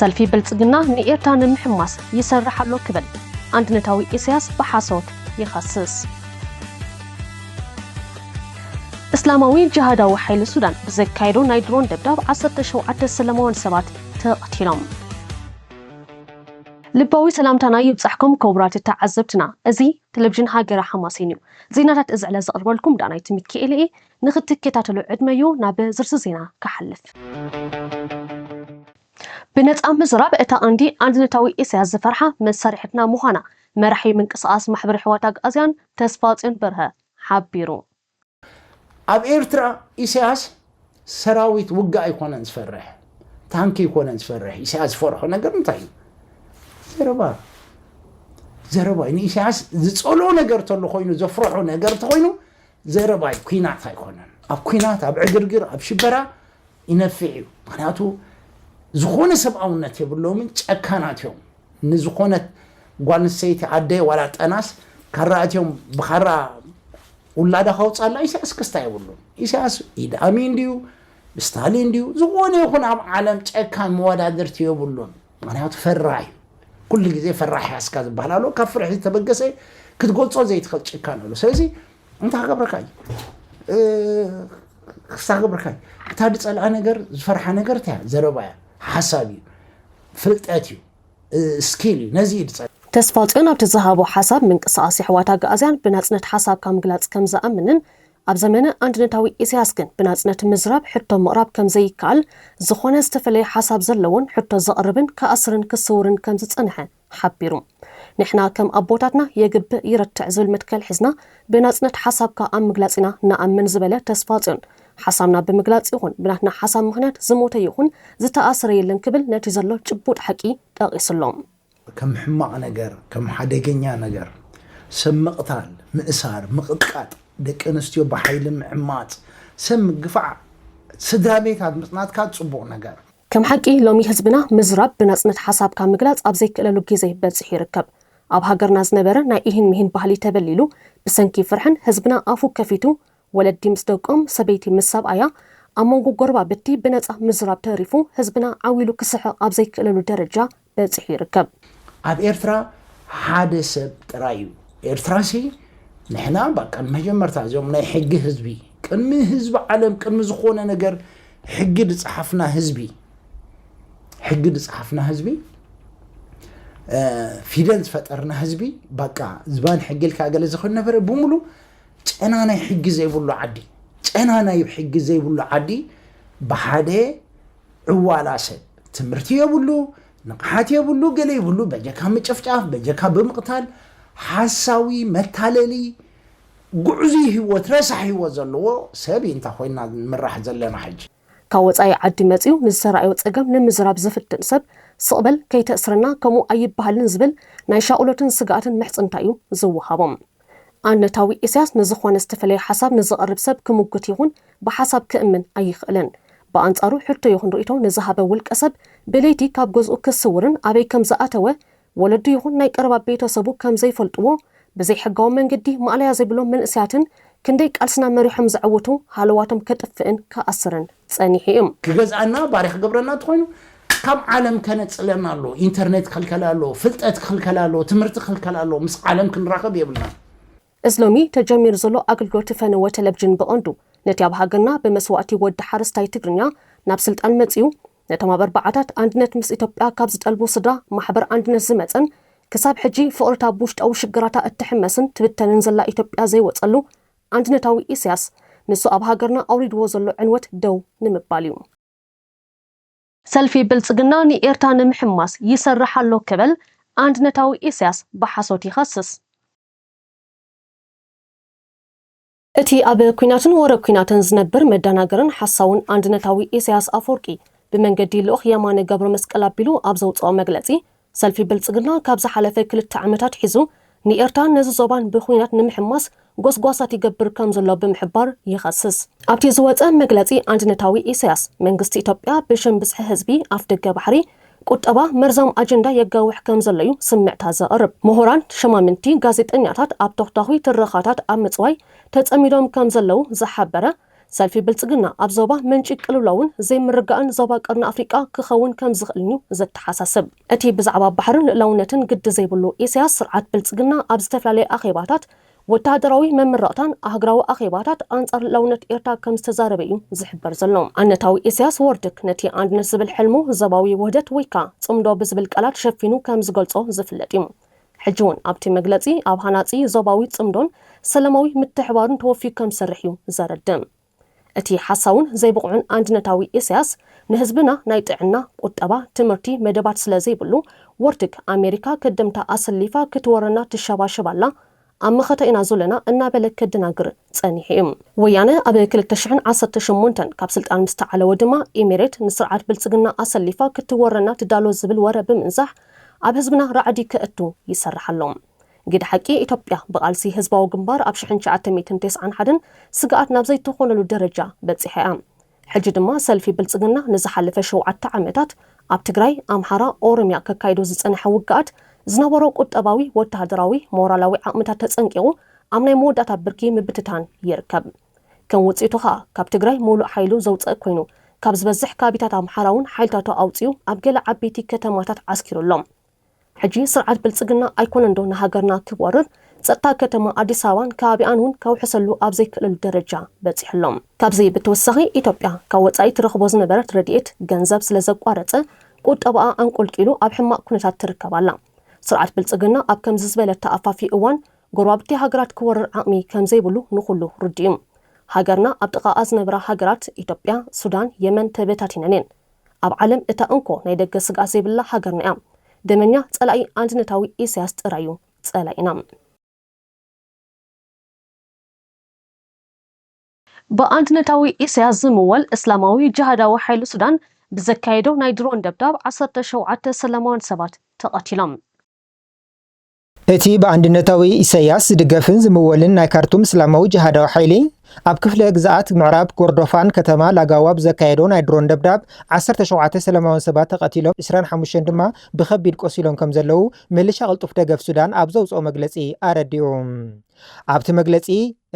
ሰልፊ ብልጽግና ንኤርትራ ንምሕማስ ይሰርሕ ኣሎ ክብል ኣንድነታዊ ኢሳያስ ብሓሶት ይኸስስ። እስላማዊ ጅሃዳዊ ሓይሊ ሱዳን ብዘካየዶ ናይ ድሮን ደብዳብ ዓሰርተ ሸውዓተ ሰላማውያን ሰባት ተቐቲሎም። ልባዊ ሰላምታና ይብጻሕኩም ክቡራት ተዓዘብትና፣ እዚ ተለቪዥን ሃገረ ሓማሴን እዩ። ዜናታት እዚ ዕለት ዘቕርበልኩም ዳናይት ሚኪኤል እየ። ንክትኬታተሉ ዕድመ ዩ ናብ ዝርዝር ዜና ክሓልፍ። ብነጻ ምዝራብ እታ ቀንዲ ኣንድነታዊ ኢሰያስ ዝፈርሓ መሳርሒትና ምዃና መራሒ ምንቅስቓስ ማሕበር የሕዋት ኣግኣዝያን ተስፋጽዮን በርሀ ሓቢሩ። ኣብ ኤርትራ ኢሰያስ ሰራዊት ውግእ ኣይኮነን ዝፈርሕ ታንኪ ኣይኮነን ዝፈርሕ ኢሰያስ ዝፈርሖ ነገር እንታይ እዩ ዘረባ ዘረባ እዩ ንኢሰያስ ዝጸልኦ ነገር ተሎ ኮይኑ ዘፍርሖ ነገር ተኾይኑ ዘረባይ ኩናት ኣይኮነን ኣብ ኩናት ኣብ ዕግርግር ኣብ ሽበራ ይነፊዕ እዩ ምክንያቱ ዝኾነ ሰብኣውነት የብሎምን ጨካናት እዮም ንዝኾነት ጓል ኣንስተይቲ ኣደ ዋላ ጠናስ ካራ ኣትዮም ብካራ ውላዳ ከውፃላ ኢሳያስ ክስታ የብሉን ኢሳያስ ኢድ ኣሚን ድዩ ስታሊን ድዩ ዝኾነ ይኹን ኣብ ዓለም ጨካን መወዳድርቲ የብሉን ምክንያቱ ፈራህ እዩ ኩሉ ግዜ ፈራሕ ያስካ ዝበሃል ኣሎ ካብ ፍርሒ ዝተበገሰ ክትገልፆ ዘይትኽእል ጭካን ኣሎ ስለዚ እንታይ ገብረካ እዩ ክስታ ገብረካ እዩ እታ ዝፀልኣ ነገር ዝፈርሓ ነገር እታ ዘረባ እያ ሓሳብ እዩ ፍልጠት እዩ ስኪል እዩ ነዚ እዩ ዝፀልእ ተስፋጽዮን ኣብቲ ዝሃቦ ሓሳብ ምንቅስቓስ የሕዋት ኣግኣዝያን ብናጽነት ሓሳብካ ምግላጽ ከምዝኣምንን ኣብ ዘመነ ኣንድነታዊ ኢሳያስ ግን ብናጽነት ምዝራብ ሕቶ ምቕራብ ከም ዘይከኣል፣ ዝኾነ ዝተፈለየ ሓሳብ ዘለዎን ሕቶ ዘቕርብን ክኣስርን ክስውርን ከም ዝጸንሐ ሓቢሩ። ንሕና ከም ኣቦታትና የግብእ ይረትዕ ዝብል መትከል ሒዝና ብናጽነት ሓሳብካ ኣብ ምግላጽ ኢና ንኣምን ዝበለ ተስፋጽዮን፣ ሓሳብና ብምግላጽ ይኹን ብናትና ሓሳብ ምኽንያት ዝሞተ ይኹን ዝተኣስረ የለን ክብል ነቲ ዘሎ ጭቡጥ ሓቂ ጠቒሱ'ሎ። ከም ሕማቕ ነገር፣ ከም ሓደገኛ ነገር፣ ሰብ ምቕታል፣ ምእሳር፣ ምቕጥቃጥ፣ ደቂ ኣንስትዮ ብሓይሊ ምዕማጽ፣ ሰብ ምግፋዕ፣ ስድራ ቤት ኣብ ምጽናት ካኣ ጽቡቕ ነገር። ከም ሓቂ ሎሚ ህዝብና ምዝራብ ብናጽነት ሓሳብካ ምግላጽ ኣብ ዘይክእለሉ ግዜ በጺሑ ይርከብ። ኣብ ሃገርና ዝነበረ ናይ ኢሂን ሚሂን ባህሊ ተበሊሉ ብሰንኪ ፍርሕን ህዝብና ኣፉ ከፊቱ ወለዲ ምስ ደቆም ሰበይቲ ምስ ሰብኣያ ኣብ መንጎ ጎረባብቲ ብነጻ ምዝራብ ተሪፉ ህዝብና ዓው ኢሉ ክስሕቕ ኣብ ዘይክእለሉ ደረጃ በጺሑ ይርከብ። ኣብ ኤርትራ ሓደ ሰብ ጥራይ እዩ። ኤርትራሲ ንሕና ባቃ መጀመርታ እዞም ናይ ሕጊ ህዝቢ ቅድሚ ህዝቢ ዓለም ቅድሚ ዝኾነ ነገር ሕጊ ድጽሓፍና ህዝቢ ሕጊ ድጽሓፍና ህዝቢ ፊደል ዝፈጠርና ህዝቢ ባቃ ዝባን ሕጊ ኢልካ ገለ ዝኽን ነበረ ብምሉ ጨና ናይ ሕጊ ዘይብሉ ዓዲ ጨና ናይ ሕጊ ዘይብሉ ዓዲ ብሓደ ዕዋላሰ ትምህርቲ የብሉ ንቕሓት የብሉ ገለ ይብሉ በጀካ ምጭፍጫፍ በጀካ ብምቕታል ሓሳዊ መታለሊ ጉዕዙይ ሂወት ረሳሕ ሂወት ዘለዎ ሰብ ኢንታ ኮይና ንምራሕ ዘለና ሕጂ። ካብ ወጻኢ ዓዲ መጺኡ ንዝተራእዮ ጸገም ንምዝራብ ዝፍትን ሰብ ስቕ በል ከይተእስረና ከምኡ ኣይበሃልን ዝብል ናይ ሻቕሎትን ስግኣትን ምሕጽንታ'ዩ ዝወሃቦም። ኣነታዊ ኢሳያስ ንዝኾነ ዝተፈለየ ሓሳብ ንዝቕርብ ሰብ ክሙግት ይኹን ብሓሳብ ክእምን ኣይኽእልን። ብኣንጻሩ ሕቶ ይኹን ርእይቶ ንዝሃበ ውልቀ ሰብ ብለይቲ ካብ ገዝኡ ክስውርን ኣበይ ከም ዝኣተወ ወለዱ ይኹን ናይ ቀረባ ቤተ ሰቡ ከም ዘይፈልጥዎ ብዘይ ሕጋዊ መንገዲ ማእለያ ዘይብሎም መንእሰያትን ክንደይ ቃልስና መሪሖም ዘዕውቱ ሃለዋቶም ከጥፍእን ክኣስርን ጸኒሑ እዩ። ክገዝኣና ባርያ ክገብረና እንተኾይኑ ካብ ዓለም ከነጽለና ኣለዎ ኢንተርኔት ክኽልከላ ኣለዎ ፍልጠት ክኽልከላ ኣለዎ ትምህርቲ ክኽልከላ ኣለዎ ምስ ዓለም ክንራኸብ የብልናን። እዚ ሎሚ ተጀሚሩ ዘሎ ኣገልግሎት ፈነወ ተለቭጅን ብቐንዱ ነቲ ኣብ ሃገርና ብመስዋእቲ ወዲ ሓረስታይ ትግርኛ ናብ ስልጣን መጺኡ ነቶም ኣብ ኣርባዓታት ኣንድነት ምስ ኢትዮጵያ ካብ ዝጠልቡ ስድራ ማሕበር ኣንድነት ዝመጸን ክሳብ ሕጂ ፍቕርታ ብውሽጣዊ ሽግራታ እትሕመስን ትብተንን ዘላ ኢትዮጵያ ዘይወጸሉ ኣንድነታዊ ኢሰያስ ንሱ ኣብ ሃገርና ኣውሪድዎ ዘሎ ዕንወት ደው ንምባል እዩ። ሰልፊ ብልጽግና ንኤርትራ ንምሕማስ ይሰርሕ ኣሎ ክብል ኣንድነታዊ ኢሳያስ ብሓሶት ይኸስስ። እቲ ኣብ ኲናትን ወረ ኲናትን ዝነብር መዳናገርን ሓሳውን ኣንድነታዊ ኢሳያስ ኣፈወርቂ ብመንገዲ ልኡኽ የማነ ገብረመስቀል ኣቢሉ ኣብ ዘውጽኦ መግለጺ ሰልፊ ብልጽግና ካብ ዝሓለፈ ክልተ ዓመት ኣትሒዙ ንኤርትራን ነዚ ዞባን ብኩናት ንምሕማስ ጎስጓሳት ይገብር ከም ዘሎ ብምሕባር ይኸስስ። ኣብቲ ዝወጸ መግለጺ ኣንድነታዊ ኢሳያስ፣ መንግስቲ ኢትዮጵያ ብሽም ብዝሒ ህዝቢ ኣፍደገ ባሕሪ፣ ቁጠባ፣ መርዛም ኣጀንዳ የጋውሕ ከም ዘሎ'ዩ ስምዕታ ዘቕርብ። ምሁራን፣ ሸማምንቲ፣ ጋዜጠኛታት ኣብ ተኹታዂ ትረኻታት ኣብ ምጽዋይ ተጸሚዶም ከም ዘለዉ ዝሓበረ ሰልፊ ብልጽግና ኣብ ዞባ ምንጪ ቅልውላውን ዘይምርጋእን ዞባ ቀርኒ ኣፍሪቃ ክኸውን ከም ዝኽእልን'ዩ ዘተሓሳስብ። እቲ ብዛዕባ ባሕርን ልእላውነትን ግዲ ዘይብሉ ኢሳያስ ስርዓት ብልጽግና ኣብ ዝተፈላለየ ኣኼባታት፣ ወተሃደራዊ መምረቕታን ኣህግራዊ ኣኼባታት ኣንጻር ልእላውነት ኤርትራ ከም ዝተዛረበ'ዩ ዝሕበር ዘሎ። ኣነታዊ ኢሳያስ ወርድክ ነቲ ኣንድነት ዝብል ሕልሙ ዞባዊ ውህደት ወይካ ጽምዶ ብዝብል ቃላት ሸፊኑ ከም ዝገልጾ ዝፍለጥ'ዩ። ሕጂ'ውን ኣብቲ መግለጺ ኣብ ሃናጺ ዞባዊ ጽምዶን ሰላማዊ ምትሕብባሩን ተወፊዩ ከም ዝሰርሕ እዩ ዘረድእ። እቲ ሓሳውን ዘይብቑዕን ኣንድነታዊ ኢሳያስ ንህዝብና ናይ ጥዕና፣ ቁጠባ፣ ትምህርቲ መደባት ስለ ዘይብሉ ወርትግ ኣሜሪካ ከደምታ ኣሰሊፋ ክትወረና ትሸባሸብ ኣላ ኣብ መኸተ ኢና ዞለና እናበለ ከደናግር ጸኒሑ እዩ። ወያነ ኣብ ክልተ ሽሕን ዓሰርተ ሸሞንተን ካብ ስልጣን ምስ ተዓለወ ድማ ኢሜሬት ንስርዓት ብልጽግና ኣሰሊፋ ክትወረና ትዳሎ ዝብል ወረ ብምንዛሕ ኣብ ህዝብና ራዕዲ ከእቱ ይሰርሕ ኣሎ። ግደ ሓቂ ኢትዮጵያ ብቓልሲ ህዝባዊ ግንባር ኣብ ሽሕን ትሽዓተ ሚእትን ተስዓን ሓደን ስግኣት ናብ ዘይትኾነሉ ደረጃ በጺሓ እያ። ሕጂ ድማ ሰልፊ ብልጽግና ንዝሓለፈ ሸውዓተ ዓመታት ኣብ ትግራይ፣ ኣምሓራ፣ ኦሮምያ ከካይዶ ዝጸነሐ ውግኣት ዝነበሮ ቁጠባዊ፣ ወተሃደራዊ፣ ሞራላዊ ዓቕምታት ተጸንቂቑ ኣብ ናይ መወዳእታ ብርኪ ምብትታን ይርከብ። ከም ውጽኢቱ ከኣ ካብ ትግራይ ምሉእ ሓይሉ ዘውጸእ ኮይኑ ካብ ዝበዝሕ ከባቢታት ኣምሓራውን ሓይልታቱ ኣውጺኡ ኣብ ገለ ዓበይቲ ከተማታት ዓስኪሩ ኣሎ። ሕጂ ስርዓት ብልጽግና ኣይኮነን ዶ ንሃገርና ክወርር ጸጥታ ከተማ ኣዲስ ኣበባን ከባቢኣን ውን ከውሕሰሉ ኣብ ዘይክእለሉ ደረጃ በጺሑ ኣሎ። ካብዚ ብተወሳኺ ኢትዮጵያ ካብ ወጻኢ ትረኽቦ ዝነበረት ረድኤት ገንዘብ ስለ ዘቋረጸ ቁጠባኣ ኣንቆልቂሉ ኣብ ሕማቕ ኩነታት ትርከብ ኣላ። ስርዓት ብልጽግና ኣብ ከምዚ ዝበለ ተኣፋፊ እዋን ጎረባብቲ ሃገራት ክወርር ዓቕሚ ከም ዘይብሉ ንኹሉ ርዱእ'ዩ። ሃገርና ኣብ ጥቓኣ ዝነብራ ሃገራት ኢትዮጵያ፣ ሱዳን፣ የመን ተበታቲነን እየን። ኣብ ዓለም እታ እንኮ ናይ ደገ ስግኣት ዘይብላ ሃገርና እያ። ደመኛ ጸላኢ ኣንድነታዊ ኢሰያስ ጥራይ እዩ ጸላኢና። ብኣንድነታዊ ኢሰያስ ዝምወል እስላማዊ ጅሃዳዊ ሓይሊ ሱዳን ብዘካየዶ ናይ ድሮን ደብዳብ ዓሰርተ ሸውዓተ ሰላማውያን ሰባት ተቐቲሎም። እቲ ብኣንድነታዊ ኢሰያስ ዝድገፍን ዝምወልን ናይ ካርቱም እስላማዊ ጅሃዳዊ ሓይሊ፣ ኣብ ክፍለ ግዝኣት ምዕራብ ኮርዶፋን ከተማ ላጋዋ ብዘካየዶ ናይ ድሮን ደብዳብ ዓሰርተ ሸውዓተ ሰለማውያን ሰባት ተቐቲሎም ዕስራን ሓሙሽተን ድማ ብኸቢድ ቆሲሎም ከምዘለዉ ምልሻ ቅልጡፍ ደገፍ ሱዳን ኣብ ዘውጽኦ መግለጺ ኣረዲኡ። ኣብቲ መግለጺ፣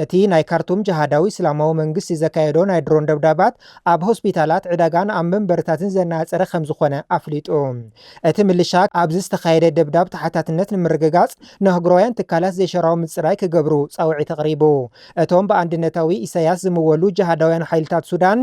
እቲ ናይ ካርቱም ጀሃዳዊ እስላማዊ መንግስቲ ዘካየዶ ናይ ድሮን ደብዳባት ኣብ ሆስፒታላት፣ ዕዳጋን ኣብ መንበርታትን ዘነጻጸረ ከምዝኾነ ኣፍሊጡ። እቲ ምልሻ ኣብዚ ዝተኻየደ ደብዳብ ተሓታትነት ንምርግጋጽ ንኣህጉራውያን ትካላት ዘይሻራዊ ምጽራይ ክገብሩ ጻውዒት ኣቕሪቡ። እቶም ብኣንድነታዊ ኢሳይያስ ዝምወሉ ጀሃዳውያን ሓይልታት ሱዳን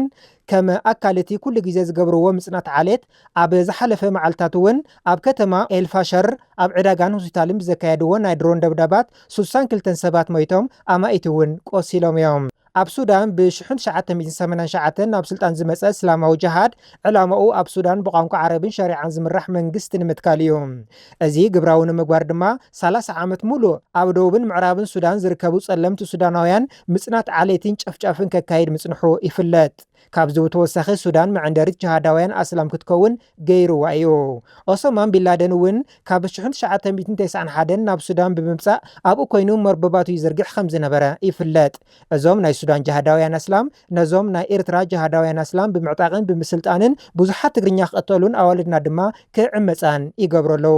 ከም ኣካል'ቲ ኩሉ ግዜ ዝገብርዎ ምጽናት ዓሌት፣ ኣብ ዝሓለፈ መዓልታት እውን ኣብ ከተማ ኤል ፋሸር ኣብ ዕዳጋን ሆስፒታልን ብዘካየድዎ ናይ ድሮን ደብዳባት ስሳን ክልተን ሰባት ሞይቶም ኣማኢት እውን ቆሲሎም እዮም። ኣብ ሱዳን ብ ሽሕን ትሽዓተ ሚእትን ሰማንያን ሸውዓተን ናብ ስልጣን ዝመጸ እስላማዊ ጀሃድ ዕላማኡ ኣብ ሱዳን ብቋንቋ ዓረብን ሸሪዓን ዝምራሕ መንግስቲ ንምትካል እዩ። እዚ ግብራዊ ንምግባር ድማ ሰላሳ ዓመት ሙሉእ ኣብ ደቡብን ምዕራብን ሱዳን ዝርከቡ ጸለምቲ ሱዳናውያን ምጽናት ዓሌትን ጨፍጫፍን ከካይድ ምጽንሑ ይፍለጥ። ካብዚ ብተወሳኺ ሱዳን መዐንደሪት ጅሃዳውያን ኣስላም ክትከውን ገይሩዋ እዩ። ኦሶማን ቢንላደን እውን ካብ ሽሕን ትሽዓተ ሚእትን ተስዓን ሓደን ናብ ሱዳን ብምምጻእ ኣብኡ ኮይኑ መርበባቱ ይዝርግሕ ከም ዝነበረ ይፍለጥ። እዞም ናይ ሱዳን ጅሃዳውያን ኣስላም ነዞም ናይ ኤርትራ ጅሃዳውያን ኣስላም ብምዕጣቕን ብምስልጣንን ብዙሓት ትግርኛ ክቕተሉን ኣዋልድና ድማ ክዕመጻን ይገብሩ ኣለዉ።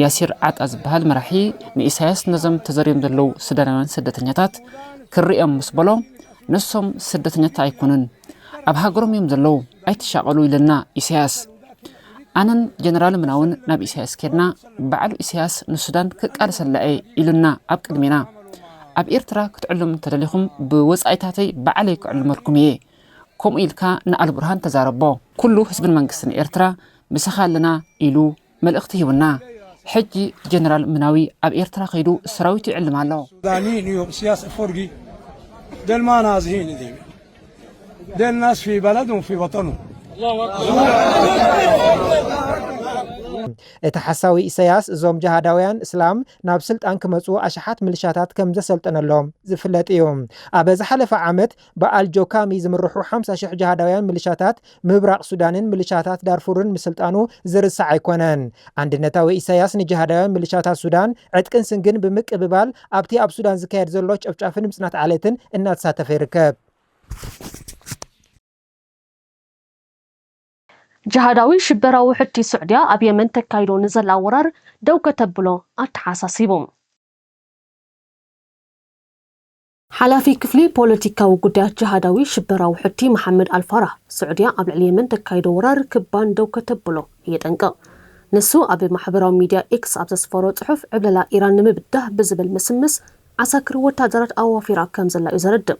ያሲር ዓጣ ዝበሃል መራሒ ንኢሳያስ ነዞም ተዘርዮም ዘለዉ ሱዳናውያን ስደተኛታት ክርእዮም ምስ በሎ ንሶም ስደተኛታት ኣይኮኑን ኣብ ሃገሮም እዮም ዘለዉ ኣይትሻቐሉ ኢለና ኢሳያስ ኣነን ጀነራል ምናውን ናብ ኢሳያስ ኬድና ባዕሉ ኢሳያስ ንሱዳን ክቃልሰላ እየ ኢሉና ኣብ ቅድሜና ኣብ ኤርትራ ክትዕሉም እንተደሊኹም ብወፃኢታተይ ባዕለይ ክዕልመልኩም እየ ከምኡ ኢልካ ንኣልቡርሃን ተዛረቦ ኩሉ ህዝብን መንግስትን ኤርትራ ምሳኻ ኣለና ኢሉ መልእኽቲ ሂቡና። ሕጂ ጀነራል ምናዊ ኣብ ኤርትራ ከይዱ ሰራዊቱ ይዕልም ኣሎ። ዳኒን እዩ እስያስ ኣፎርጊ ደልማ ናዝሂን እዚ ደል ናስ ፊ በለዱን ፊ ወጠኑን እቲ ሓሳዊ ኢሰያስ እዞም ጀሃዳውያን እስላም ናብ ስልጣን ክመጹ ኣሽሓት ምልሻታት ከም ዘሰልጠነሎም ዝፍለጥ እዩ። ኣብ ዝሓለፈ ዓመት ብኣል ጆካሚ ዝምርሑ ሓምሳ ሽሕ ጅሃዳውያን ምልሻታት ምብራቕ ሱዳንን ምልሻታት ዳርፉርን ምስልጣኑ ዝርሳዕ ኣይኮነን። ኣንድነታዊ ኢሳያስ ንጅሃዳውያን ምልሻታት ሱዳን ዕጥቅን ስንግን ብምቅብባል ኣብቲ ኣብ ሱዳን ዝካየድ ዘሎ ጨፍጫፍን ምጽናት ዓሌትን እናተሳተፈ ይርከብ። ጅሃዳዊ ሽበራ ውሕድቲ ሱዕድያ ኣብ የመን ተካይዶ ንዘላ ወራር ደው ከተብሎ ኣተሓሳሲቡ። ሓላፊ ክፍሊ ፖለቲካዊ ጉዳያት ጅሃዳዊ ሽበራ ውሕድቲ መሓመድ ኣልፋራህ፣ ስዑድያ ኣብ ልዕሊ የመን ተካይዶ ወራር ክብ ባን ደው ከተብሎ የጠንቅቕ። ንሱ ኣብ ማሕበራዊ ሚድያ ኤክስ ኣብ ዘስፈሮ ጽሑፍ ዕብለላ ኢራን ንምብዳህ ብዝብል ምስምስ ዓሳክር ወታደራት ኣዋፊራ ከምዘላ'ዩ ዘረድእ።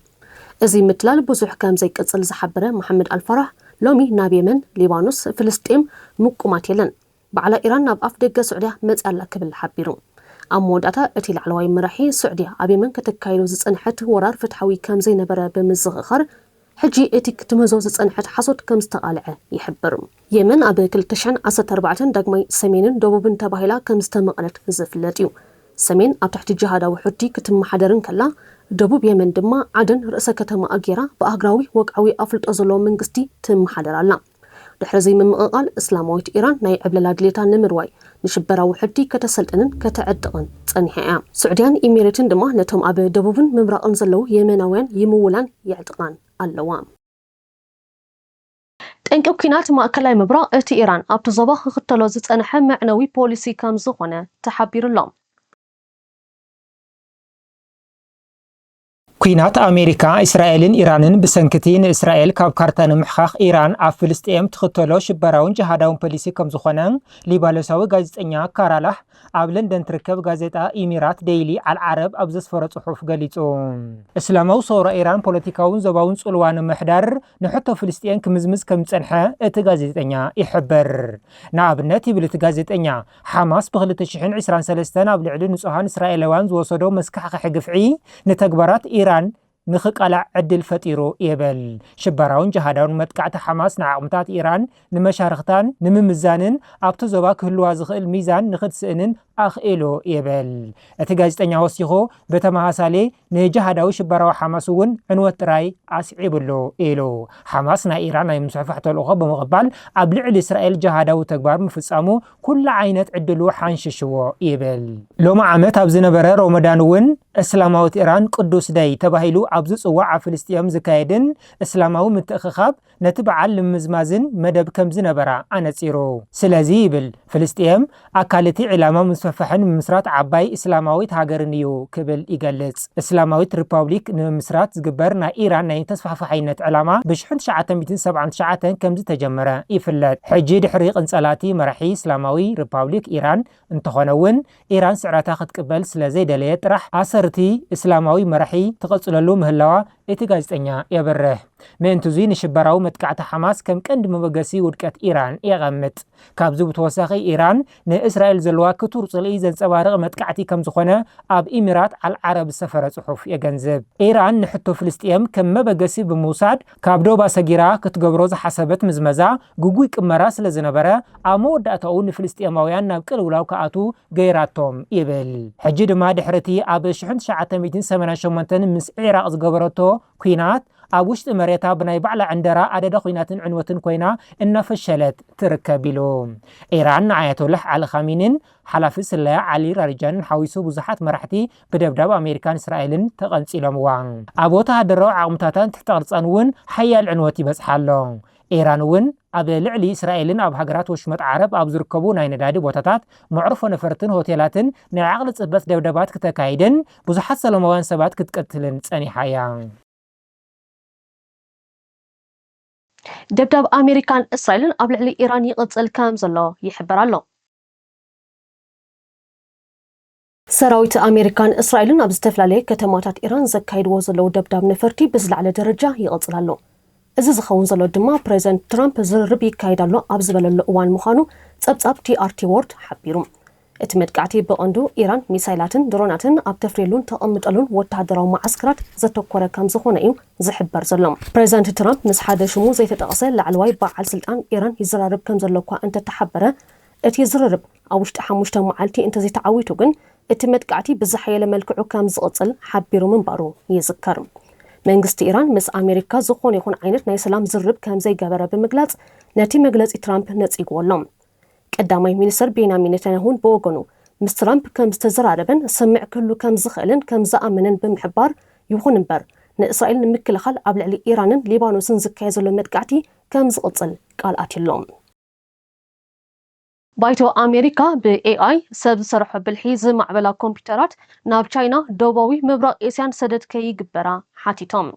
እዚ ምትላል ብዙሕ ከምዘይቅጽል ዝሓበረ መሓመድ ኣልፋራህ፣ ሎሚ ናብ የመን፣ ሊባኖስ፣ ፍልስጤም ምቁማት የለን። ባዕላ ኢራን ናብ ኣፍደገ ስዑድያ መጺኣ ኣላ ክብል ሓቢሩ። ኣብ መወዳእታ እቲ ላዕለዋይ መራሒ፣ ስዑድያ ኣብ የመን ከተካይዶ ዝጸንሐት ወራር ፍትሓዊ ከም ዘይነበረ ብምዝኽኻር፣ ሕጂ እቲ ክትምህዞ ዝጸንሐት ሓሶት ከም ዝተቓልዐ ይሕብር። የመን ኣብ ክልተ ሽሕን ዓሰርተ ኣርባዕተን ዳግማይ ሰሜንን ደቡብን ተባሂላ ከም ዝተመቐለት ዝፍለጥ እዩ። ሰሜን ኣብ ትሕቲ ጂሃዳዊ ሑቲ ክትመሓደር እንከላ፣ ደቡብ የመን ድማ ዓደን ርእሰ ከተማኣ ገይራ ብኣህግራዊ ወግዓዊ ኣፍልጦ ዘለዎ መንግስቲ ትመሓደር ኣላ። ድሕሪ'ዚ ምምቕቓል እስላማዊት ኢራን ናይ ዕብለላ ድሌታ ንምርዋይ ንሽበራ ውሕድቲ ከተሰልጥንን ከተዕጥቕን ጸኒሓ እያ። ስዑድያን ኢሚሬትን ድማ ነቶም ኣብ ደቡብን ምብራቕን ዘለዉ የመናውያን ይምውላን የዕጥቓን ኣለዋ። ጠንቂ ኲናት ማእከላይ ምብራቕ እቲ ኢራን ኣብቲ ዞባ ክኽተሎ ዝጸንሐ መዕነዊ ፖሊሲ ከምዝኾነ ተሓቢሩ'ሎ። ኲናት ኣሜሪካ፣ እስራኤልን ኢራንን ብሰንኪ'ቲ ንእስራኤል ካብ ካርታ ንምሕካኽ ኢራን ኣብ ፍልስጤም ትኽተሎ ሽበራውን ጅሃዳውን ፖሊሲ ከምዝኾነ ሊባኖሳዊ ጋዜጠኛ ካራላህ ኣብ ለንደን ትርከብ ጋዜጣ ኢሚራት ደይሊ ኣል ዓረብ ኣብ ዘስፈሮ ጽሑፍ ገሊጹ። እስላማዊ ሰውራ ኢራን ፖለቲካውን ዞባውን ጽልዋ ንምሕዳር ንሕቶ ፍልስጤን ክምዝምዝ ከም ዝጸንሐ እቲ ጋዜጠኛ ይሕብር። ንኣብነት ይብል እቲ ጋዜጠኛ፣ ሓማስ ብ ክልተ ሽሕን ዕስራን ሰለስተን ኣብ ልዕሊ ንጹሃን እስራኤላውያን ዝወሰዶ መስካሕኸሒ ግፍዒ ንተግባራት ኢራን ንኽቃላዕ ዕድል ፈጢሩ ይብል። ሽበራውን ጅሃዳውን መጥቃዕቲ ሓማስ ንዓቕምታት ኢራን ንመሻርኽታን ንምምዛንን ኣብቲ ዞባ ክህልዋ ዝኽእል ሚዛን ንኽትስእንን ኣኽኢሉ ይብል እቲ ጋዜጠኛ ወሲኹ ብተመሳሳሊ ንጅሃዳዊ ሽበራዊ ሓማስ እውን ዕንወት ጥራይ ኣስዒብሉ ኢሉ። ሓማስ ናይ ኢራን ናይ ምስፍሕፋሕ ተልእኾ ብምቕባል ኣብ ልዕሊ እስራኤል ጅሃዳዊ ተግባር ምፍጻሙ ኩሉ ዓይነት ዕድሉ ሓንሺሽዎ ይብል። ሎሚ ዓመት ኣብ ዝነበረ ሮሞዳን እውን እስላማዊት ኢራን ቅዱስ ደይ ተባሂሉ ኣብ ዝጽዋዕ ኣብ ፍልስጤም ዝካየድን እስላማዊ ምትእኽኻብ ነቲ በዓል ንምምዝማዝን መደብ ከም ዝነበራ ኣነጺሩ። ስለዚ ይብል፣ ፍልስጤም ኣካል እቲ ዒላማ ምስፍሕፋሕን ምምስራት ዓባይ እስላማዊት ሃገርን እዩ ክብል ይገልጽ። እስላማዊት ሪፓብሊክ ንምምስራት ዝግበር ናይ ኢራን ናይ ተስፋሕፋሓይነት ዕላማ ብ ሽሕን ትሽዓተ ሚእትን ሰብዓን ትሽዓተን ከም ዝተጀመረ ይፍለጥ። ሕጂ ድሕሪ ቅንጸላ እቲ መራሒ እስላማዊ ሪፓብሊክ ኢራን እንተኾነ እውን፣ ኢራን ስዕረታ ክትቅበል ስለ ዘይደለየት ጥራሕ ኣሰር እቲ እስላማዊ መራሒ ትቕጽለሉ ምህላዋ እቲ ጋዜጠኛ የብርህ። ምእንት'ዙይ ንሽበራዊ መጥቃዕቲ ሓማስ ከም ቀንዲ መበገሲ ውድቀት ኢራን የቐምጥ። ካብዚ ብተወሳኺ ኢራን ንእስራኤል ዘለዋ ክቱር ጽልኢ ዘንጸባርቕ መጥቃዕቲ ከም ዝኾነ ኣብ ኢሚራት ኣል ዓረብ ዝሰፈረ ጽሑፍ የገንዝብ። ኢራን ንሕቶ ፍልስጥኤም ከም መበገሲ ብምውሳድ፣ ካብ ዶባ ሰጊራ ክትገብሮ ዝሓሰበት ምዝመዛ ግጉይ ቅመራ ስለ ዝነበረ፣ ኣብ መወዳእታኡ ንፍልስጤማውያን ናብ ቅልውላው ክኣትዉ ገይራቶም ይብል። ሕጂ ድማ ድሕሪ'ቲ ኣብ ሽሕን ትሽዓተ ሚእትን ሰማንያን ሸሞንተን ምስ ዒራቕ ዝገበረቶ ኲናት፣ ኣብ ውሽጢ መሬታ ብናይ ባዕላ ዕንደራ ኣደዳ ኲናትን ዕንወትን ኮይና እናፈሸለት ትርከብ ኢሉ። ኢራን ንኣያቶላህ ዓሊ ኻሚኒን ሓላፊ ስለያ ዓሊ ራሪጃንን ሓዊሱ ብዙሓት መራሕቲ ብደብዳብ ኣሜሪካን እስራኤልን ተቐንጺሎምዋ። ኣብ ወተሃደራዊ ዓቕምታታን ትሕተ ቅርጻን እውን ሓያል ዕንወት ይበጽሓ ኣሎ። ኢራን እውን ኣብ ልዕሊ እስራኤልን ኣብ ሃገራት ወሽመጥ ዓረብ ኣብ ዝርከቡ ናይ ነዳዲ ቦታታት፣ መዕርፎ ነፈርትን ሆቴላትን ናይ ዓቕሊ ጽበት ደብዳባት ክተካይድን ብዙሓት ሰለማውያን ሰባት ክትቅትልን ጸኒሓ እያ። ደብዳብ ኣሜሪካን እስራኤልን ኣብ ልዕሊ ኢራን ይቕጽል ከምዘሎ ይሕበር ኣሎ። ሰራዊት ኣሜሪካን እስራኤልን ኣብ ዝተፈላለየ ከተማታት ኢራን ዘካይድዎ ዘለዉ ደብዳብ ነፈርቲ ብዝለዓለ ደረጃ ይቕጽል ኣሎ። እዚ ዝኸውን ዘሎ ድማ ፕረዚደንት ትራምፕ ዝርርብ ይካየድ ኣሎ ኣብ ዝበለሉ እዋን ምዃኑ ጸብጻብ ቲኣርቲ ዎርድ ሓቢሩ። እቲ መጥቃዕቲ ብቐንዱ ኢራን ሚሳይላትን ድሮናትን ኣብ ተፍርየሉን ተቐምጠሉን ወተሃደራዊ መዓስከራት ዘተኮረ ከምዝኾነ እዩ ዝሕበር ዘሎ። ፕረዚደንት ትራምፕ ምስ ሓደ ሽሙ ዘይተጠቕሰ ላዕለዋይ በዓል ስልጣን ኢራን ይዘራረብ ከምዘሎ'ኳ እንተተሓበረ፣ እቲ ዝርርብ ኣብ ውሽጢ ሓሙሽተ መዓልቲ እንተዘይተዓዊቱ ግን እቲ መጥቃዕቲ ብዝሓየለ መልክዑ ከምዝቕፅል ሓቢሩ ምንባሩ ይዝከር። መንግስቲ ኢራን ምስ ኣሜሪካ ዝኾነ ይኹን ዓይነት ናይ ሰላም ዝርርብ ከምዘይገበረ ብምግላፅ ነቲ መግለፂ ትራምፕ ነፂግዎ ኣሎ። ቀዳማይ ሚኒስትር ቤንያሚን ኔታንያሁን ብወገኑ ምስ ትራምፕ ከምዝተዘራረበን ስምምዕ ክህሉ ከምዝኽእልን ከምዝኣመነን ብምሕባር ይኹን እምበር ንእስራኤል ንምክልኻል ኣብ ልዕሊ ኢራንን ሊባኖስን ዝካየድ ዘሎ መጥቃዕቲ ከምዝቕፅል ቃል ኣትዩ ኣሎ። ባይቶ ኣሜሪካ ብኤኣይ፣ ሰብ ዝሰርሖ ብልሒ፣ ዝማዕበላ ኮምፒዩተራት ናብ ቻይና፣ ደቡባዊ ምብራቕ ኤስያን ሰደድ ከይግበራ ሓቲቶም።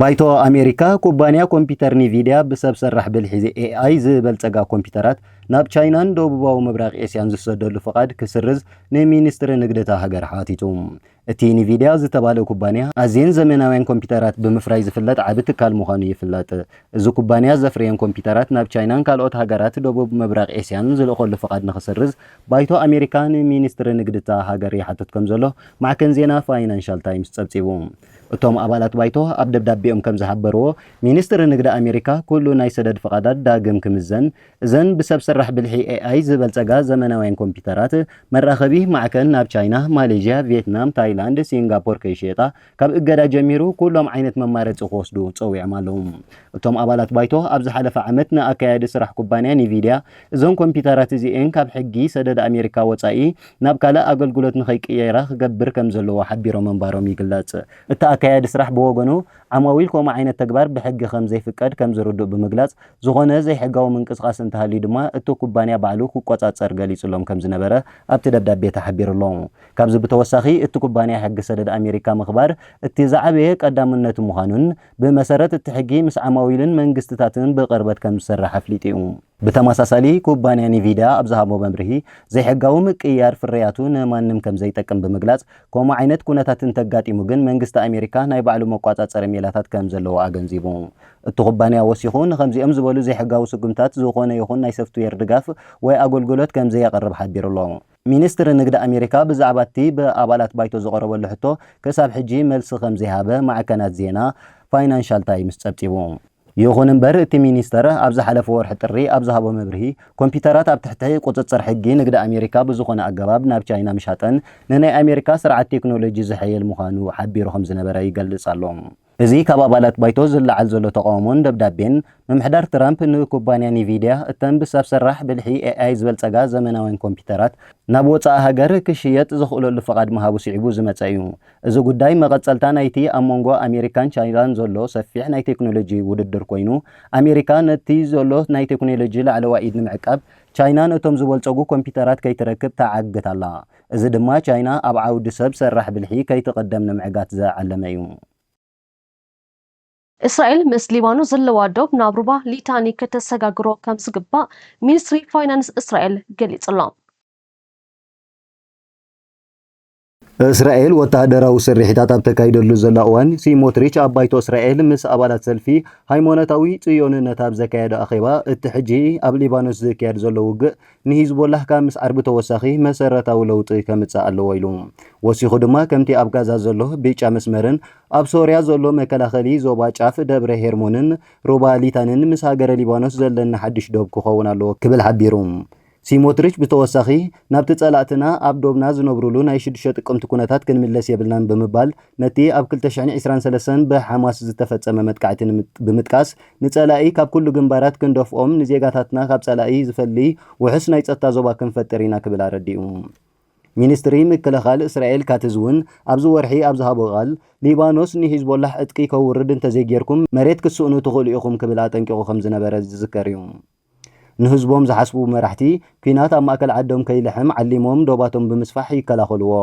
ባይቶ ኣሜሪካ፣ ኩባንያ ኮምፒዩተር ኒቪድያ ብሰብ ሰራሕ ብልሒ፣ ኤኣይ፣ ዝበልፀጋ ኮምፒዩተራት ናብ ቻይናን ደቡባዊ ምብራቕ ኤስያን ዝሰደሉ ፍቓድ ክስርዝ ንሚንስትሪ ንግዲ እታ ሃገር ሓቲቱ። እቲ ኢንቪድያ ዝተባልእ ኩባንያ፣ ኣዝየን ዘመናውያን ኮምፒተራት ብምፍራይ ዝፍለጥ ዓቢ ትካል ምዃኑ ይፍለጥ። እዚ ኩባንያ ዘፍርየን ኮምፒተራት ናብ ቻይናን ካልኦት ሃገራት ደቡብ ምብራቕ ኤስያን ዝልእከሉ ፍቓድ ንኽስርዝ ባይቶ ኣሜሪካ ንሚኒስትሪ ንግዲ'ታ ሃገር ይሓትት ከምዘሎ ማዕከን ዜና ፋይናንሻል ታይምስ ጸብጺቡ። እቶም ኣባላት ባይቶ ኣብ ደብዳቤኦም ከምዝሓበርዎ፣ ሚኒስትሪ ንግዲ ኣሜሪካ ኩሉ ናይ ሰደድ ፍቓዳት ዳግም ክምዘን፣ እዘን ብሰብ ሰራሕ ብልሒ፣ AI፣ ዝበልጸጋ ዘመናውያን ኮምፒዩተራት፣ መራኸቢ ማዕከን ናብ ቻይና፣ ማሌዥያ፣ ቪየትናም፣ ታይላንድ፣ ሲንጋፖር ከይሽየጣ፣ ካብ እገዳ ጀሚሩ ኩሎም ዓይነት መማረጺ ክወስዱ ጸዊዖም ኣለዉ። እቶም ኣባላት ባይቶ፣ ኣብ ዝሓለፈ ዓመት ንኣካያዲ ስራሕ ኩባንያ ኒቪድያ፣ እዘን ኮምፒዩተራት እዚኤን ካብ ሕጊ ሰደድ ኣሜሪካ ወጻኢ ናብ ካልእ ኣገልግሎት ንኸይቅየራ ክገብር ከም ዘለዎ ሓቢሮም ምንባሮም ይግለጽ። እቲ ኣካያዲ ስራሕ ብወገኑ፣ ዓማዊል ከምኡ ዓይነት ተግባር ብሕጊ ከም ዘይፍቀድ ከም ዝርድኡ ብምግላጽ፣ ዝኾነ ዘይሕጋዊ ምንቅስቓስ እንተሃልዩ ድማ እቲ ኩባንያ ባዕሉ ክቆፃፀር ገሊፁሎም ከምዝነበረ ኣብቲ ደብዳቤ ተሓቢሩ ኣሎ። ካብዚ ብተወሳኺ እቲ ኩባንያ ሕጊ ሰደድ ኣሜሪካ ምኽባር እቲ ዝዓበየ ቀዳምነቱ ምዃኑን ብመሰረት እቲ ሕጊ ምስ ዓማዊልን መንግስቲታትን ብቕርበት ከምዝሰርሕ ኣፍሊጡ እዩ። ብተመሳሳሊ ኩባንያ ኒቪዳ ኣብ ዝሃቦ መብርሂ ዘይሕጋዊ ምቅይያር ፍርያቱ ንማንም ከምዘይጠቅም ብምግላፅ ከምኡ ዓይነት ኩነታት እንተጋጢሙ ግን መንግስቲ ኣሜሪካ ናይ ባዕሉ መቋፃፀሪ ሜላታት ከምዘለዎ ኣገንዚቡ። እቲ ኩባንያ ወሲኹ፣ ንኸምዚኦም ዝበሉ ዘይሕጋዊ ስጉምታት ዝኾነ ይኹን ናይ ሰፍትዌር ድጋፍ ወይ ኣጎልጉሎት ከም ዘየቕርብ ሓቢሩ ኣሎ። ሚኒስትሪ ንግዲ ኣሜሪካ ብዛዕባ'ቲ ብኣባላት ባይቶ ዝቐረበሉ ሕቶ ክሳብ ሕጂ መልሲ ከም ዘይሃበ ማዕከናት ዜና ፋይናንሻል ታይምስ ጸብጺቡ። ይኹን እምበር እቲ ሚኒስተር ኣብ ዝሓለፈ ወርሒ ጥሪ ኣብ ዝሃቦ መብርሂ፣ ኮምፒዩተራት ኣብ ትሕቲ ቁጽጽር ሕጊ ንግዲ ኣሜሪካ ብዝኾነ ኣገባብ ናብ ቻይና ምሻጠን ንናይ ኣሜሪካ ስርዓት ቴክኖሎጂ ዝሕይል ምዃኑ ሓቢሩ ከም ዝነበረ ይገልጽ ኣሎ። እዚ ካብ ኣባላት ባይቶ ዝለዓል ዘሎ ተቓውሞን ደብዳቤን፣ ምምሕዳር ትራምፕ ንኩባንያ ኒቪድያ እተን ብሰብ ሰራሕ ብልሒ፣ ኤኣይ፣ ዝበልጸጋ ዘመናውያን ኮምፒዩተራት ናብ ወጻኢ ሃገር ክሽየጥ ዘኽእለሉ ፍቓድ ምሃቡ ስዒቡ ዝመጸ እዩ። እዚ ጉዳይ መቐጸልታ ናይቲ ኣብ መንጎ ኣሜሪካን ቻይናን ዘሎ ሰፊሕ ናይ ቴክኖሎጂ ውድድር ኮይኑ፣ ኣሜሪካ ነቲ ዘሎ ናይ ቴክኖሎጂ ላዕለዋይ ኢድ ንምዕቃብ፣ ቻይና ነቶም ዝበልጸጉ ኮምፒዩተራት ከይትረክብ ትዓግት ኣላ። እዚ ድማ ቻይና ኣብ ዓውዲ ሰብ ሰራሕ ብልሒ ከይትቕደም ንምዕጋት ዝዓለመ እዩ። እስራኤል ምስ ሊባኖስ ዘለዋ ዶብ ናብ ሩባ ሊታኒ ከተሰጋግሮ ከምዝግባእ ሚኒስትሪ ፋይናንስ እስራኤል ገሊጹ'ሎ። እስራኤል ወተሃደራዊ ስርሒታት ኣብ ተካይደሉ ዘላ እዋን፣ ሲሞትሪች ኣብ ባይቶ እስራኤል ምስ ኣባላት ሰልፊ ሃይማኖታዊ ጽዮንነት ኣብ ዘካየዶ ኣኼባ፣ እቲ ሕጂ ኣብ ሊባኖስ ዝካየድ ዘሎ ውግእ ንሂዝቦላህ ካብ ምስዓር ብተወሳኺ መሰረታዊ ለውጢ ከምጽእ ኣለዎ ኢሉ። ወሲኹ ድማ ከምቲ ኣብ ጋዛ ዘሎ ብጫ መስመርን ኣብ ሶርያ ዘሎ መከላኸሊ ዞባ ጫፍ ደብረ ሄርሞንን ሩባ ሊታንን ምስ ሃገረ ሊባኖስ ዘለና ሓድሽ ዶብ ክኸውን ኣለዎ ክብል ሓቢሩ። ሲሞትሪች ብተወሳኺ ናብቲ ጸላእትና ኣብ ዶብና ዝነብሩሉ ናይ ሽዱሽተ ጥቅምቲ ኩነታት ክንምለስ የብልናን ብምባል ነቲ ኣብ ክልተ ሽሕን ዕስራን ሰለስተን ብሓማስ ዝተፈጸመ መጥቃዕቲ ብምጥቃስ ንጸላኢ ካብ ኩሉ ግንባራት ክንደፍኦም፣ ንዜጋታትና ካብ ጸላኢ ዝፈሊ ውሑስ ናይ ጸጥታ ዞባ ክንፈጥር ኢና ክብል ኣረዲኡ። ሚንስትሪ ምክልኻል እስራኤል ካትዝ'ውን ኣብዚ ወርሒ ኣብ ዝሃቦ ቃል፣ ሊባኖስ ንሂዝቦላሕ ዕጥቂ ከውርድ እንተዘይጌርኩም መሬት ክትስእኑ ትኽእሉ ኢኹም ክብል ኣጠንቂቑ ከምዝነበረ ዝዝከር'ዩ። ንህዝቦም ዝሓስቡ መራሕቲ፣ ኲናት ኣብ ማእከል ዓዶም ከይልሕም ዓሊሞም ዶባቶም ብምስፋሕ ይከላኸሉዎ።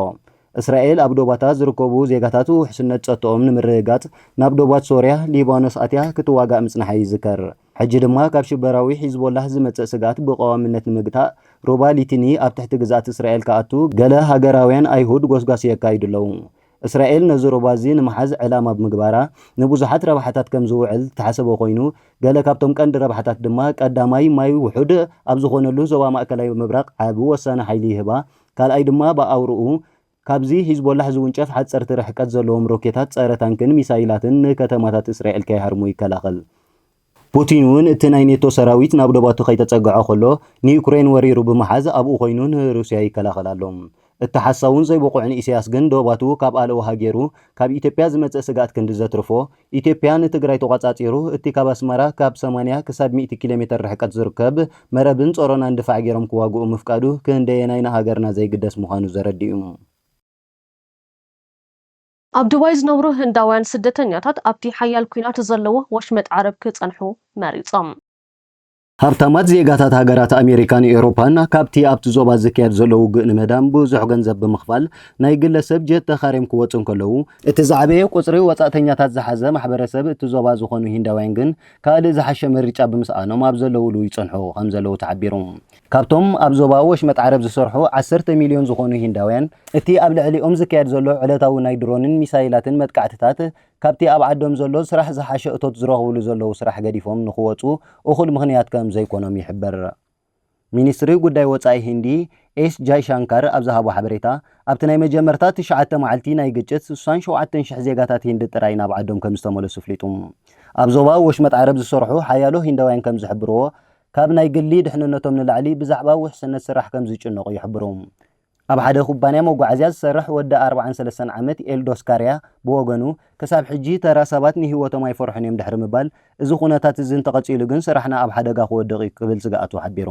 እስራኤል ኣብ ዶባታ ዝርከቡ ዜጋታት ውሕስነት ጸጥትኦም ንምርግጋጽ ናብ ዶባት ሶርያ፣ ሊባኖስ ኣትያ ክትዋጋእ ምጽንሓ ይዝከር። ሕጂ ድማ ካብ ሽበራዊ ሒዝቦላህ ዝመጽእ ስግኣት ብቀዋምነት ንምግታእ፣ ሩባ ሊቲኒ ኣብ ትሕቲ ግዝኣት እስራኤል ክኣቱ ገለ ሃገራውያን ኣይሁድ ጎስጓስ የካይዱ ኣለዉ። እስራኤል ነዚ ሩባ እዚ ንምሓዝ ዕላማ ብምግባራ ንብዙሓት ረብሓታት ከም ዝውዕል ዝተሓሰበ ኮይኑ፣ ገለ ካብቶም ቀንዲ ረብሓታት ድማ ቀዳማይ ማይ ውሑድ ኣብ ዝኾነሉ ዞባ ማእከላይ ምብራቕ ዓቢ ወሳኒ ሓይሊ ይህባ፣ ካልኣይ ድማ ብኣውርኡ ካብዚ ሂዝቦላሕ ዝውንጨፍ ሓጸርቲ ርሕቀት ዘለዎም ሮኬታት ጸረ ታንክን ሚሳይላትን ንከተማታት እስራኤል ከይሃርሙ ይከላኸል። ፑቲን እውን እቲ ናይ ኔቶ ሰራዊት ናብ ዶባቱ ከይተጸግዐ ከሎ ንዩክሬን ወሪሩ ብምሓዝ ኣብኡ ኮይኑ ንሩስያ ይከላኸል ኣሎ። እቲ ሓሳውን ዘይብቑዕን ኢሰያስ ግን ዶባቱ ካብ ኣለውሃ ጌሩ ካብ ኢትዮጵያ ዝመጽእ ስግኣት ክንዲ ዘትርፎ ኢትዮጵያ ንትግራይ ተቖጻጺሩ እቲ ካብ ኣስመራ ካብ ሰማንያ ክሳብ ሚእቲ ኪሎሜተር ርሕቀት ዝርከብ መረብን ጸሮናን ድፋዕ ጌሮም ክዋግኡ ምፍቃዱ ክንደየናይ ንሃገርና ዘይግደስ ምዃኑ ዘረድእ'ዩ። ኣብ ዱባይ ዝነብሩ ህንዳውያን ስደተኛታት ኣብቲ ሓያል ኲናት ዘለዎ ወሽመጥ ዓረብ ክጸንሑ መሪጾም። ሃብታማት ዜጋታት ሃገራት ኣሜሪካን ኤውሮፓን ካብቲ ኣብቲ ዞባ ዝካየድ ዘሎ ውግእ ንምህዳም ብዙሕ ገንዘብ ብምኽፋል ናይ ግለ ሰብ ጀት ተኻርዮም ክወጹ እንከለዉ፣ እቲ ዝዓበየ ቁጽሪ ወጻእተኛታት ዝሓዘ ማሕበረሰብ እቲ ዞባ ዝኾኑ ሂንዳውያን ግን ካልእ ዝሓሸ ምርጫ ብምስኣኖም ኣብ ዘለዉሉ ይጸንሑ ከምዘለዉ ተሓቢሩ። ካብቶም ኣብ ዞባ ወሽመጥ ዓረብ ዝሰርሑ ዓሰርተ ሚልዮን ዝኾኑ ሂንዳውያን፣ እቲ ኣብ ልዕሊኦም ዝካየድ ዘሎ ዕለታዊ ናይ ድሮንን ሚሳይላትን መጥቃዕትታት፣ ካብቲ ኣብ ዓዶም ዘሎ ስራሕ ዝሓሸ እቶት ዝረኽብሉ ዘለዉ ስራሕ ገዲፎም ንኽወጹ እኹል ምኽንያት ከም ዘይኮኖም ይሕበር። ሚኒስትሪ ጉዳይ ወጻኢ ሂንዲ ኤስ ጃይሻንካር ኣብ ዝሃቦ ሓበሬታ፣ ኣብቲ ናይ መጀመርታ ትሽዓተ መዓልቲ ናይ ግጭት ስሳን ሸውዓተን ሽሕ ዜጋታት ሂንዲ ጥራይ ናብ ዓዶም ከም ዝተመለሱ ኣፍሊጡ። ኣብ ዞባ ወሽመጥ ዓረብ ዝሰርሑ ሓያሎ ሂንዳውያን ከም ዝሕብርዎ፣ ካብ ናይ ግሊ ድሕንነቶም ንላዕሊ ብዛዕባ ውሕስነት ስራሕ ከም ዝጭነቑ ይሕብሩ። ኣብ ሓደ ኩባንያ መጓዓዝያ ዝሰርሕ ወዲ ኣርብዓን ሰለስተን ዓመት ኤልዶስ ካርያ ብወገኑ፣ ክሳብ ሕጂ ተራ ሰባት ንህይወቶም ኣይፈርሑን እዮም ድሕሪ ምባል፣ እዚ ኩነታት እዚ እንተቐጺሉ ግን ስራሕና ኣብ ሓደጋ ክወድቕ እዩ ክብል ስግኣቱ ሓቢሩ።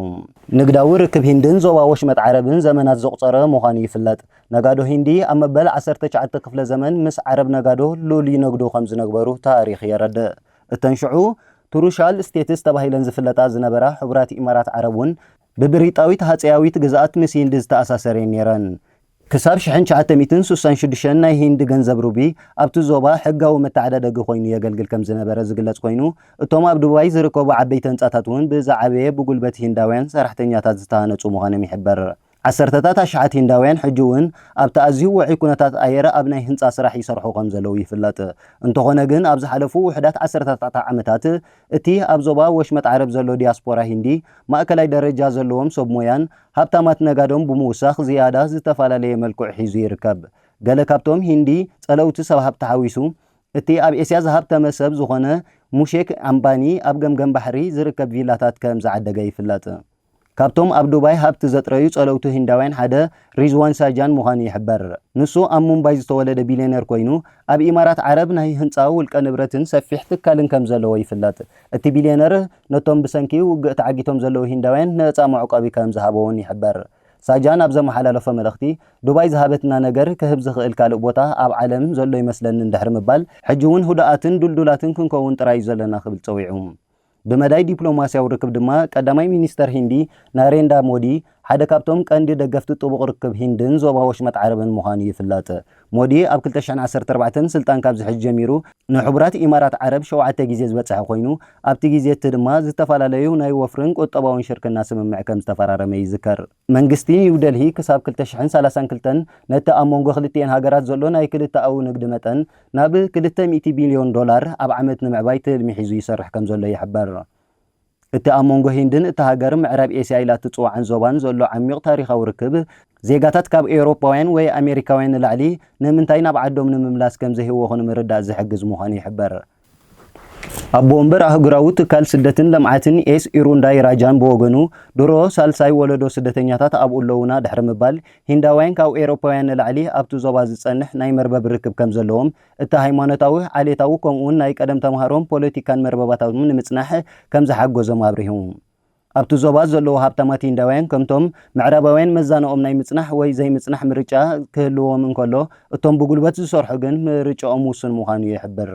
ንግዳዊ ርክብ ሂንድን ዞባ ወሽመጥ ዓረብን ዘመናት ዘቑጸረ ምዃኑ ይፍለጥ። ነጋዶ ሂንዲ ኣብ መበል ዓሰርተ ትሽዓተ ክፍለ ዘመን ምስ ዓረብ ነጋዶ ሉል ይነግዱ ከም ዝነግበሩ ታሪኽ የረድእ። እተን ሽዑ ትሩሻል ስቴትስ ተባሂለን ዝፍለጣ ዝነበራ ሕቡራት ኢማራት ዓረብ እውን ብብሪጣዊት ሃጸያዊት ግዝኣት ምስ ሂንዲ ዝተኣሳሰር እየን ነይረን። ክሳብ ሽሕን ትሽዓተ ሚእትን ስሳን ሽዱሽተን ናይ ሂንዲ ገንዘብ ሩቢ ኣብቲ ዞባ ሕጋዊ መተዓዳደጊ ኮይኑ የገልግል ከም ዝነበረ ዝግለጽ ኮይኑ፣ እቶም ኣብ ዱባይ ዝርከቡ ዓበይቲ ህንጻታት እውን ብዝዓበየ ብጉልበት ሂንዳውያን ሰራሕተኛታት ዝተሃነጹ ምዃኖም ይሕበር። ዓሰርተታት ኣሽሓት ሂንዳውያን ሕጂ'ውን ኣብቲ ኣዝዩ ውዑይ ኩነታት ኣየር ኣብ ናይ ህንጻ ስራሕ ይሰርሑ ከም ዘለዉ ይፍለጥ። እንተኾነ ግን ኣብ ዝሓለፉ ውሑዳት ዓሰርተታት ዓመታት እቲ ኣብ ዞባ ወሽመጥ ዓረብ ዘሎ ዲያስፖራ ሂንዲ ማእከላይ ደረጃ ዘለዎም ሰብ ሞያን ሃብታማት ነጋዶን ብምውሳኽ ዝያዳ ዝተፈላለየ መልክዑ ሒዙ ይርከብ። ገለ ካብቶም ሂንዲ ጸለውቲ ሰብ ሃብቲ ሓዊሱ እቲ ኣብ ኤስያ ዝሃብተመ ሰብ ዝኾነ ሙሼክ ኣምባኒ ኣብ ገምገም ባሕሪ ዝርከብ ቪላታት ከም ዝዓደገ ይፍለጥ። ካብቶም ኣብ ዱባይ ሃብቲ ዘጥረዩ ጸለውቲ ህንዳውያን ሓደ ሪዝዋን ሳጃን ምዃኑ ይሕበር። ንሱ ኣብ ሙምባይ ዝተወለደ ቢልዮነር ኰይኑ፣ ኣብ ኢማራት ዓረብ ናይ ህንጻ ውልቀ ንብረትን ሰፊሕ ትካልን ከም ዘለዎ ይፍለጥ። እቲ ቢልዮነር ነቶም ብሰንኪ ውግእ ተዓጊቶም ዘለዉ ህንዳውያን ነጻ መዕቆቢ ከም ዝሃበ'ውን ይሕበር። ሳጃን ኣብ ዘመሓላለፎ መልእኽቲ፣ ዱባይ ዝሃበትና ነገር ክህብ ዝኽእል ካልእ ቦታ ኣብ ዓለም ዘሎ ይመስለኒ ድሕሪ ምባል፣ ሕጂ'ውን ህዱኣትን ድልዱላትን ክንከውን ጥራይ'ዩ ዘለና ክብል ጸዊዑ። ብመዳይ ዲፕሎማስያዊ ርክብ ድማ ቀዳማይ ሚኒስተር ሂንዲ ናሬንዳ ሞዲ ሓደ ካብቶም ቀንዲ ደገፍቲ ጥቡቕ ርክብ ሂንድን ዞባ ወሽመጥ ዓረብን ምዃኑ ይፍለጥ። ሞዲ ኣብ ክልተ ሽሕን ዓሰርተ ኣርባዕተን ስልጣን ካብ ዝሕዝ ጀሚሩ ንሕቡራት ኢማራት ዓረብ ሸውዓተ ግዜ ዝበጸሐ ኮይኑ ኣብቲ ግዜ'ቲ ድማ ዝተፈላለዩ ናይ ወፍርን ቁጠባውን ሽርክና ስምምዕ ከምዝተፈራረመ ይዝከር። መንግስቲ ኒው ደልሂ ክሳብ ክልተ ሽሕን ሰላሳን ክልተን ነቲ ኣብ መንጎ ክልቲኤን ሃገራት ዘሎ ናይ ክልተኣዊ ንግዲ መጠን ናብ ክልተ ሚእቲ ቢልዮን ዶላር ኣብ ዓመት ንምዕባይ ትልሚ ሒዙ ይሰርሕ ከምዘሎ ይሕበር። እቲ ኣብ መንጎ ሂንድን እታ ሃገር ምዕራብ ኤስያ ኢላ እትጽውዓን ዞባን ዘሎ ዓሚዩቕ ታሪኻዊ ርክብ፣ ዜጋታት ካብ ኤውሮጳውያን ወይ ኣሜሪካውያን ንላዕሊ ንምንታይ ናብ ዓዶም ንምምላስ ከምዘይህወኹ ንምርዳእ ዝሕግዝ ምዃኑ ይሕበር። ኣቦ ወንበር ኣህጉራዊ ትካል ስደትን ልምዓትን ኤስ ኢሩንዳይ ራጃን ብወገኑ፣ ድሮ ሳልሳይ ወለዶ ስደተኛታት ኣብኡ ኣለዉና ድሕሪ ምባል፣ ሂንዳውያን ካብ ኤውሮፓውያን ንላዕሊ ኣብቲ ዞባ ዝጸንሕ ናይ መርበብ ርክብ ከምዘለዎም፣ እቲ ሃይማኖታዊ፣ ዓሌታዊ ከምኡ'ውን ናይ ቀደም ተማሃሮን ፖለቲካን መርበባታቶም ንምጽናሕ ከምዝሓገዞም ኣብሪሁ። ኣብቲ ዞባ ዘለዉ ሃብታማት ሂንዳውያን ከምቶም ምዕራባውያን መዛኖኦም ናይ ምጽናሕ ወይ ዘይምጽናሕ ምርጫ ክህልዎም እንከሎ፣ እቶም ብጉልበት ዝሰርሑ ግን ምርጫኦም ውሱን ምዃኑ ይሕብር።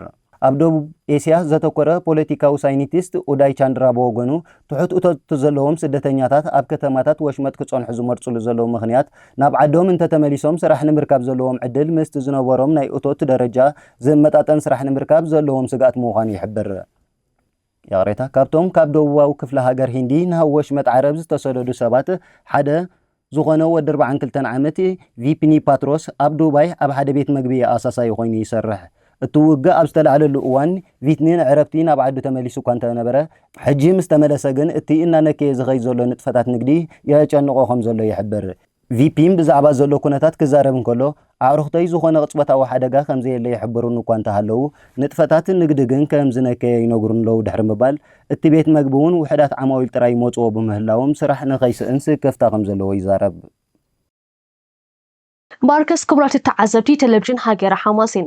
ኣብ ደቡብ ኤስያ ዘተኮረ ፖለቲካዊ ሳይንቲስት ኡዳይ ቻንድራ ብወገኑ፣ ትሑት እቶት ዘለዎም ስደተኛታት ኣብ ከተማታት ወሽመጥ ክጸንሑ ዝመርጽሉ ዘለዉ ምኽንያት፣ ናብ ዓዶም እንተተመሊሶም ስራሕ ንምርካብ ዘለዎም ዕድል ምስቲ ዝነበሮም ናይ እቶት ደረጃ ዝመጣጠን ስራሕ ንምርካብ ዘለዎም ስግኣት ምዃኑ ይሕብር። ይቕሬታ፣ ካብቶም ካብ ደቡባዊ ክፍለ ሃገር ሂንዲ ናብ ወሽመጥ ዓረብ ዝተሰደዱ ሰባት ሓደ ዝዀነ ወዲ ኣርብዓን ክልተን ዓመት ቪፒኒ ፓትሮስ፣ ኣብ ዱባይ ኣብ ሓደ ቤት መግቢ ኣሳሳዪ ኰይኑ ይሰርሕ። እቲ ውግእ ኣብ ዝተላዕለሉ እዋን፣ ቪትኒ ንዕረፍቲ ናብ ዓዱ ተመሊሱ እኳ እንተ ነበረ፣ ሕጂ ምስ ተመለሰ ግን እቲ እናነከየ ዝኸይድ ዘሎ ንጥፈታት ንግዲ የጨንቖ ከም ዘሎ ይሕብር። ቪፒም ብዛዕባ ዘሎ ኩነታት ክዛረብ እንከሎ፣ ኣዕሩኽተይ ዝኾነ ቅጽበታዊ ሓደጋ ከምዘየለ ይሕብሩኒ እኳ እንተሃለዉ፣ ንጥፈታት ንግዲ ግን ከም ዝነከየ ይነግሩኒ ኣለዉ ድሕሪ ምባል፣ እቲ ቤት መግቢ'ውን ውሑዳት ዓማዊል ጥራይ ይመጽዎ ብምህላዎም ስራሕ ንኸይስእን ስክፍታ ከም ዘለዎ ይዛረብ። ባርከስ ክቡራት ተዓዘብቲ ተለቪዥን ሃገረ ሓማሴን፣